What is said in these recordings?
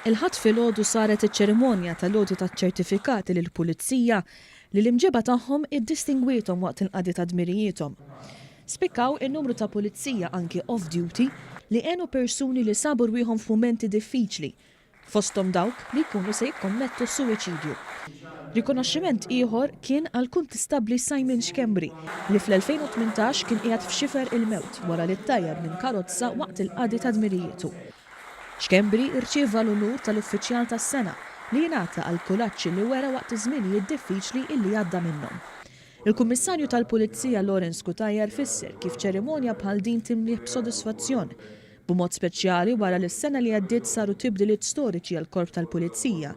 Il-Ħadd filgħodu saret iċ-ċerimonja tal-għoti taċ-ċertifikati lill-Pulizija li l-imġieba tagħhom iddistingwiethom waqt il-qadi ta' dmirijiethom. Spikkaw in-numru ta' Pulizija anki off-duty li għenu persuni li sabu rwieħhom f'mumenti diffiċli fosthom dawk li jkunu se jikkommettu s-suwiċidju. Rikonoxximent ieħor kien għall-Kuntistabbli Simon Schembri li fl-2018 kien qiegħed f'xifer il-mewt wara li ttajjar minn karozza waqt il-qadi ta' dmirijitu. Schembri rċieva l-unur tal-Uffiċjal tas-Sena li jingħata għall-kuraġġ li wera waqt iż-żminijiet diffiċli illi għadda minnhom. Il-Kummissarju tal-Pulizija Lawrence Cutajar fisser kif ċerimonja bħal din timlieh b'sodisfazzjon b'mod speċjali wara li s-sena li għaddiet saru tibdiliet storiċi għall-Korp tal-Pulizija,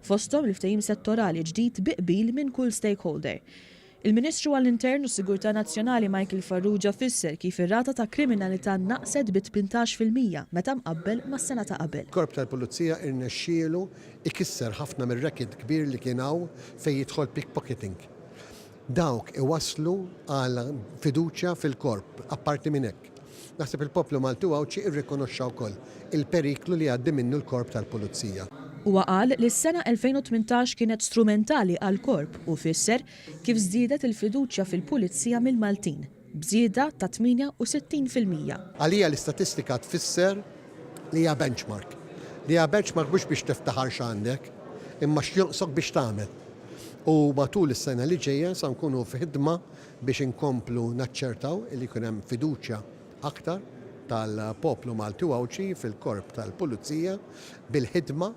fosthom il-ftehim settorali ġdid bi qbil minn kull stakeholder. Il-Ministru għall-Intern u s-Sigurtà Nazzjonali Michael Farrugia fisser kif ir-rata ta' kriminalità naqset bi tmintax fil-mija meta mqabbel mas-sena ta' qabel. Korp tal-Pulizija irnexxielu jkisser ħafna mir-record kbir li kien hawn fejn jidħol pickpocketing. Dawk iwasslu għal fiduċja fil-korp. Apparti minn hekk, naħseb il-poplu Malti u Għawdxi irrikonoxxa wkoll il-periklu li jgħaddi minnu l-Korp tal-Pulizija. Huwa qal li s-sena 2018 kienet strumentali għall-korp u fisser kif żdiedet il-fiduċja fil-Pulizija mill-Maltin. b'żieda ta' 68 fil-mija. Għalija l-istatistika tfisser li hija benchmark. Li hija benchmark mhux biex tiftaħar x'għandek, imma x'jonqsok biex tagħmel. U matul is-sena li ġejja sa nkunu f'ħidma biex inkomplu naċċertaw li jkun hemm fiduċja aktar tal-poplu Malti u Għawdxi fil-Korp tal-Pulizija bil-ħidma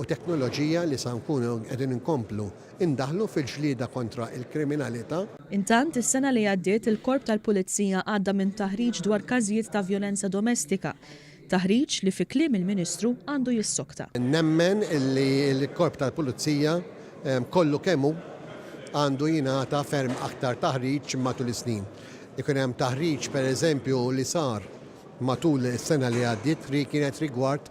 u teknoloġija li sa nkunu qegħdin inkomplu ndaħħlu fil-ġlieda kontra l-kriminalità. Intant, is-sena li għaddiet il-Korp tal-Pulizija għadda minn taħriġ dwar każijiet ta' vjolenza domestika, taħriġ li fi kliem il-Ministru għandu jissokta. Nemmen li l-Korp tal-Pulizija kollu kemm hu għandu jingħata ferm aktar taħriġ matul is-snin. Ikun hemm taħriġ, pereżempju, li sar matul is-sena li għaddiet li kienet rigward